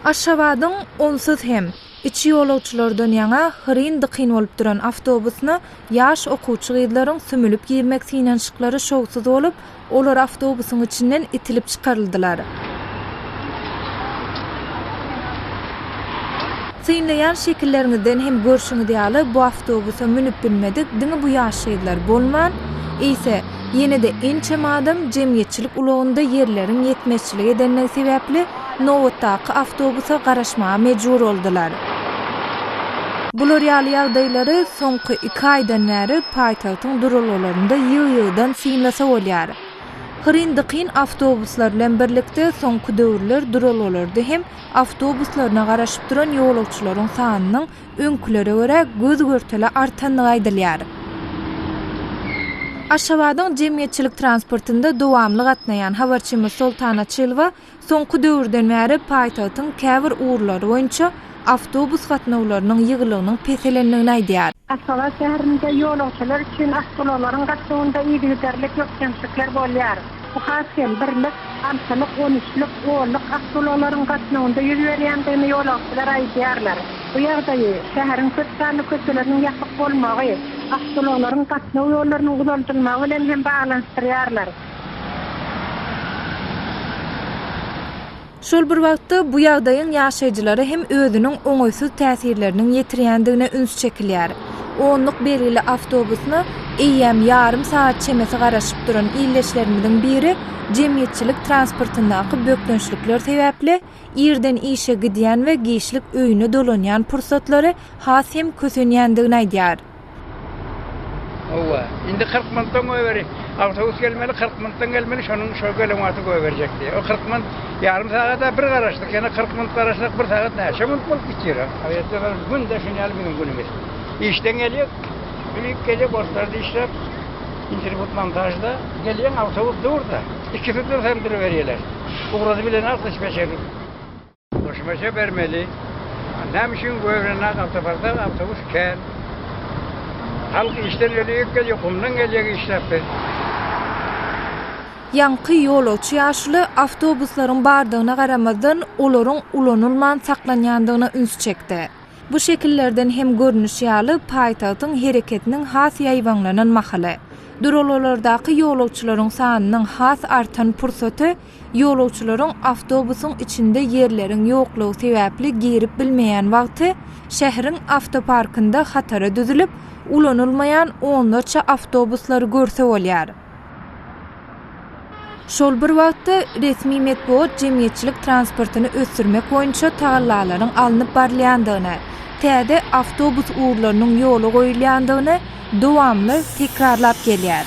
Aşgabadyň onsuz hem, içi ýolagçylardan ýaňa hyryn-dykyn bolup duran awtobusyna ýaş okuwçy gyzlaryň sümülip girmek synanyşyklary şowsuz bolup, olar awtobusyň içinden itilip çykaryldylar. Synlaýan şekilleriňizden hem görşüňiz ýaly, bu awtobusa münüp bilmedik diňe bu ýaş gyzlar bolman, eýse, Ýene-de ençeme adam jemgyýetçilik ulagynda ýerleriň ýetmezçilik edendigi sebäpli nobatdaky awtobusa garaşmaga mejbur boldular. Bular ýaly ýagdaýlary soňky iki aýdan bäri paýtagtyň duralgalarynda ýygy-ýygydan synlasa bolýar. Hyryn-dykyn awtobuslar bilen birlikde soňky döwürler duralgalarda hem awtobuslaryna garaşyp duran ýolagçylaryň sanynyň öňkülere görä göz-görtele artandygy aýdylýar. Aşgabadyň jemgyýetçilik transportynda dowamly gatnaýan habarçymyz Soltan Açylowa soňky döwürden bäri paýtagtyň käbir ugurlary boýunça awtobus gatnawlarynyň ýygylygynyň peselendigini aýdýar. Aşgabat şäherinde ýolagçylar üçin awtoulaglaryň gatnawynda yzygiderli köpkemçilikler bolýar. Bu has hem birlik, altylyk, on üçlük, onluk awtoulaglaryň gatnawynda ýüz berýändigini ýolagçylar aýdýarlar. Bu ýagdaýy, şäheriň köp sanly köçeleriniň ýapyk bolmagy, awtoulaglaryň gatnaw ýollarynyň uzaldylmagy bilen hem baglanyşdyrýarlar. Şol bir wagtda, bu ýagdaýyň ýaşaýjylara hem özüniň oňaýsyz täsirleriniň ýetirýändigine üns çekilýär. Onluk belgili awtobusyna eýýäm ýarym sagat çemesi garaşyp duran ildeşlerimiziň biri jemgyýetçilik transportyndaky bökdençlikler sebäpli irden işe gidýän we giçlik öýüne dolanýan pursatlary has hem kösenýändigini aýdýar. Howwa. Indi kyrk minutdan goýberi. Awtobus gelmeli, kyrk minutdan gelmeli, şonuň şo gelen wagty goýberjek diýýär. O kyrk minut ýarym sagada bir garaşdyk, ýene kyrk minut garaşsak, bir sagat näçe minut bolup gitýär. Aýratyn bir günde şuny ýaly biziň günümiz. Işden gelýär, üýüp gelýär, borçlary dişläp, internet montažda. Gelýän awtobus dur-da. Ikisi dursa hem duruberýärler. Ugrady bilenok dispetçer. Goşmaça bermeli. Näme üçin göwrenýän awtoparkda awtobus kän. Halk işden öleýik gelýär, gumdan gelýär işläp biz. Ýaňky ýolagçy ýaşuly awtobuslaryň bardygyna garamazdan, olaryň ulanylman saklanýandygyna üns çekdi. Bu şekillerden hem görnüşi ýaly, paýtagtyň hereketiniň has ýaýbaňlanan mahaly, duralgalardaky ýolagçylaryň sanynyň has artan pursaty, Ýolagçylaryň awtobusyň içinde ýerleriň ýoklugy sebäpli girip bilmeýän wagty, şäheriň awtoparkynda hatara düzülip, ulanylmaýan onlarça awtobuslary görse bolýar. Şol bir wagtda, resmi metbugat jemgyýetçilik transportyny ösdürmek boýunça tagallalaryň alnyp barylýandygyny, täze awtobus ugurlarynyň ýola goýulýandygyny, Dowamly tekrarlap gelýär.